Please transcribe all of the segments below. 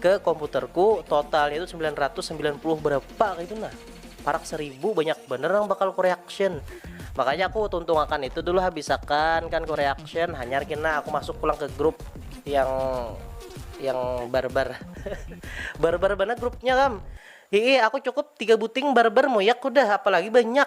Ke komputer ku, totalnya tu sembilan ratus sembilan puluh berapa kaitu nah. Parak seribu banyak banar nang bakal ku reaction. Makanya aku tuntung akan itu dulu habis akan kan ku reaction hanyar kena aku masuk pulang ke grup yang yang barbar. barbar banar grupnya kam. Hiih aku cukup tiga buting barbar muyak hudah apalagi banyak.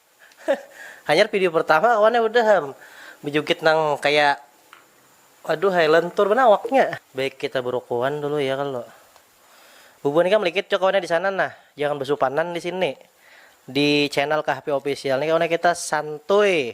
Hanyar video pertama awan ai udah am bejugit nang kaya aduh ai lentur banar awaknya. Baik kita berukuan dulu ya kalo. Bubuhan ikam likit jua kawannya disana nah, jangan besupanan disini. Di channel Kahpi Official ni kawannya kita santuy.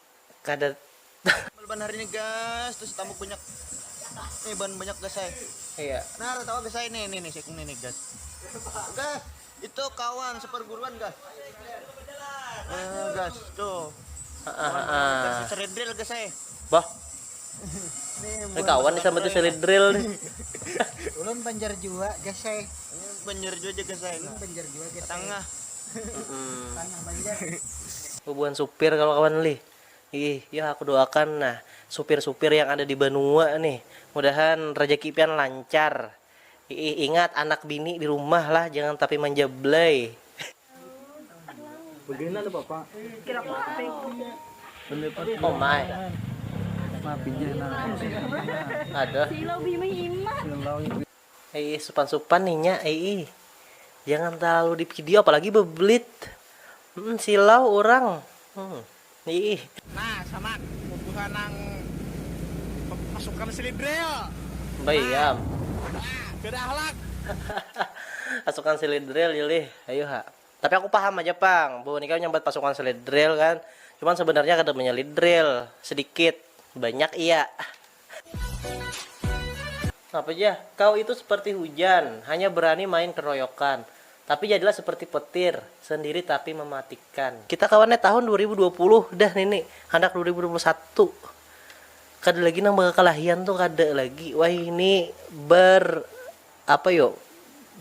kada. Meleban hari ni gas tuh si tambuk banyak nih ban banyak gas ai iya nah ada tawa gas ai nih nih nih si ikung nih nih gas gas itu kawan seperguruan gas eh, gas tuh kawan gas si seredril gas ai bah nih kawan disambut si seredril nih ulun banjar jua gas ai banjar jua aja gas ai banjar jua gas tengah Bubuhan supir kalau kawan lih. Ih, ya aku doakan nah supir-supir yang ada di banua nih, mudahan rejeki pian lancar. Iih, ingat anak bini di rumah lah jangan tapi manja blay. Omg. Iih supan supan nih nya iih. Jangan terlalu di video apalagi bebelit. Hmm, silau orang. Hmm. Iih. Nah, sama bubuhan nang pasukan silidril. Bayam. Nah, beda ahlak. pasukan silidril Yuli, ayo ha. Tapi aku paham aja pang, bu nikah nyambat pasukan silidril kan. Cuman sebenarnya kada menyelidril, sedikit, banyak iya. Napa jah, kau itu seperti hujan, hanya berani main keroyokan, tapi jadilah seperti petir, sendiri tapi mematikan. Kita kawannya tahun dua ribu dua puluh dah nini, handak dua ribu dua puluh satu, kada lagi nang bakakalahian tu kada lagi wahini ber apa yo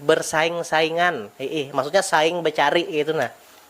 bersaing-saingan, hiih maksudnya saing becari kaitu nah.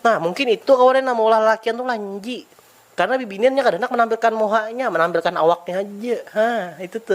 Nah, mungkin itu kawan yang maulah lalakian tu lanji. Karena bibinian nya kada handak menampilkan muhanya, menampilkan awaknya haja. Ha, itu tu.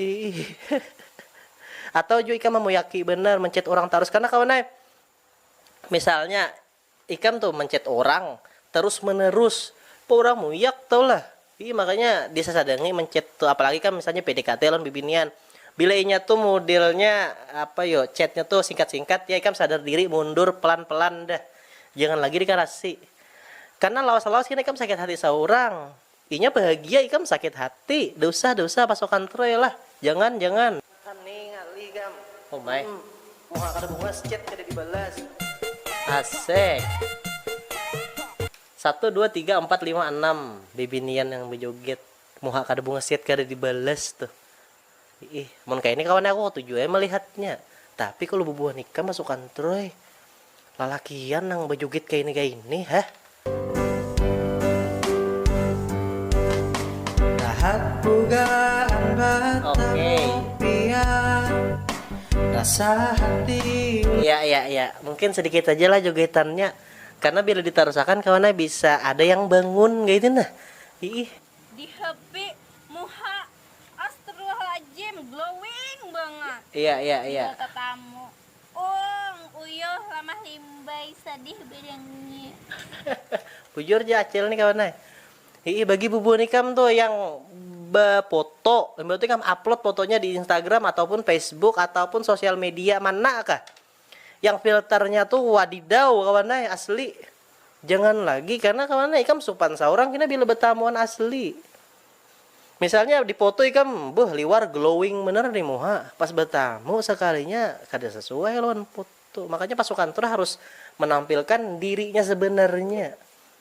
Iih. Atau jua ikam mamuyaki banar menchat urang tarus kena kawan ai. Misalnya ikam tuh menchat urang terus menerus, kok urang muyak tau lah. Iih makanya disasadangi menchat tuh apalagi kam misalnya PDKT lawan bibinian. Bila inya tuh modelnya apa yo chatnya tuh singkat-singkat ya ikam sadar diri mundur pelan-pelan dah. Jangan lagi dikarasi. Karena lawas-lawas kena ikam sakit hati saurang. Inya bahagia ikam sakit hati. Dausah dausah pasokan troy lah. Jangan jangan. Makan ni ngalih ikam. Oh my. Mmm. Muha kada bungas chat kada dibalas. Asek. Satu dua tiga ampat lima anam bibinian nang bajoget. Muha kada bungas chat kada dibalas tuh. Iih, mun kaya ini kawan aku katuju ai malihatnya. Tapi kalu bubuhan ikam masukan Troy, lalakian nang bajugit kaya ini kaya ini heh. Iya iya iya, mungkin sedikit haja lah jogetannya karena bila ditarusakan kawan ai bisa ada yang bangun kaya itu nah. Iih. Di happy muha astrulhajim glowing bangat. Iya iya iya. Bila tatamu. Uung uyuh lamah limbai sadih badangnya. Bujur ja acil nih kawan ai. Hii bagi bubuhan ikam tuh yang bapoto imbah tu ikam upload fotonya di Instagram ataupun Facebook ataupun sosial media mana kah? Yang filternya tu wadidaw kawan ai asli. Jangan lagi karena kawan ai ikam supan saurang kena bila betamu wan asli. Misalnya di foto ikam beuh liwar glowing banar ni muha, pas betamu sekalinya kada sesuai lawan foto. Makanya pasukan tur harus menampilkan dirinya sebenarnya.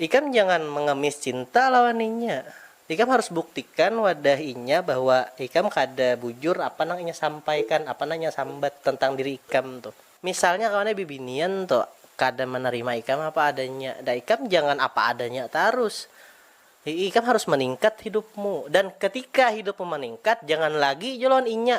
Ikam jangan mengemis cinta lawan inya. Ikam harus buktikan wadah inya bahwa ikam kada bujur apa nang inya sampaikan, apa nang inya sambat tentang diri ikam tuh. Misalnya kawannya bibinian tu kada menerima ikam apa adanya, dah ikam jangan apa adanya tarus. Ikam harus meningkat hidupmu. Dan ketika hidupmu meningkat, jangan lagi jua lawan inya.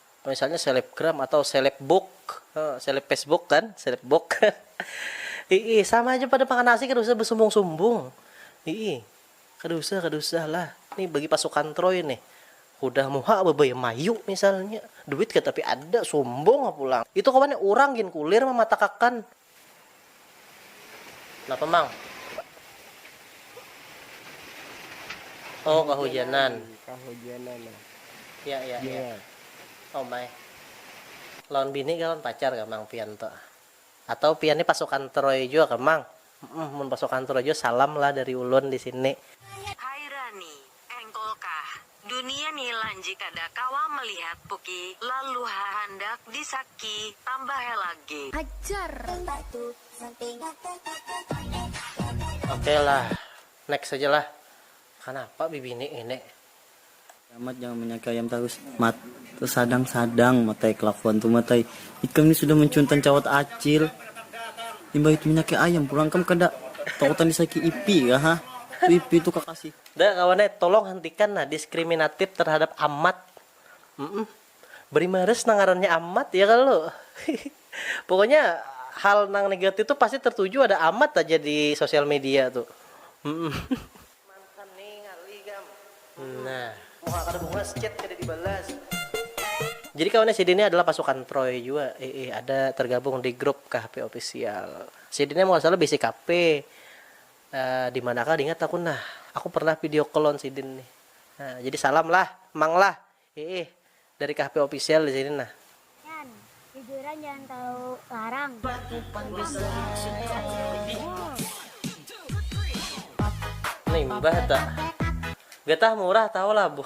Misalnya selebgram atau selebbook, seleb Facebook kan, selebbook. Iih, sama aja pada makan nasi kada usah besumbung-sumbung. Iih, kada usah, kada usah lah. Nih bagi pasukan Troy nih, hudah muha bebaya mayu misalnya, duit katapi ada, sumbung pulang. Itu kawan urang gin kulir mamatakakan. Napa mang? Oh kahujanan. Kahujanan. Nah. Ya ya ya. ya. Oh my. Lawan bini kah lawan pacar kah mang pian tuh? Atau pian ni pasukan Troy jua kah mang? Mm, mun pasukan Troy jua salam lah dari ulun di sini. Hai Rani, Engkol kah. Dunia ni lanji kada kawa melihat puki lalu hahandak di saki tambah helak gi. Ajar. Ok lah next aja lah. Kanapa bibini ngini. Yaa mat jangan menyaki ayam tarus mat tersadang sadang mat ai kelakuan tu mat ai ikam ni sudah mencuntan cawat acil imbah itu menyaki ayam pulang ikam kada takutan disaki ipi kah ha tu ipi tu kakasih. Dah kawan ai, tolong hentikan nah diskriminatif terhadap amat. Mm-mm. Beri mares nang ngarannya amat, ya kalo? Pokoknya hal nang negatif tu pasti tertuju ada amat aja di sosial media tu. Mm-mm. Mantan ni ngalih ikam. Nah. Muha kada bungas, chat kada dibalas. Jadi kawan ai sidin ni adalah pasukan Troy jua, iih ada tergabung di grup KHP official. Sidin ni amun kada salah bisi KP. Di mana kah diingat aku nah. Aku pernah video call lawan sidin nih. Nah, jadi salam lah, Mang lah. Hiih, dari Kahpe Official di sini nah. Yan, jujuran jangan terlalu larang. Limbah ta. Getah murah tahu lah bu.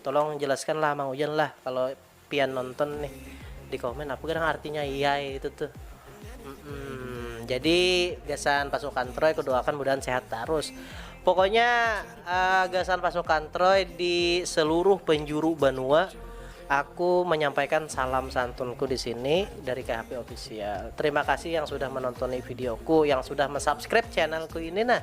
Tolong jelaskan lah mang ujan lah kalo pian nonton nih di komen apa gerang artinya iai itu tuh mm jadi gasan pasukan troy kudoakan mudahan sehat tarus pokoknya uh, gasan pasukan troy di seluruh penjuru banua aku menyampaikan salam santunku di sini dari KHP official terima kasih yang sudah menonton videoku yang sudah mensubscribe channelku ini nah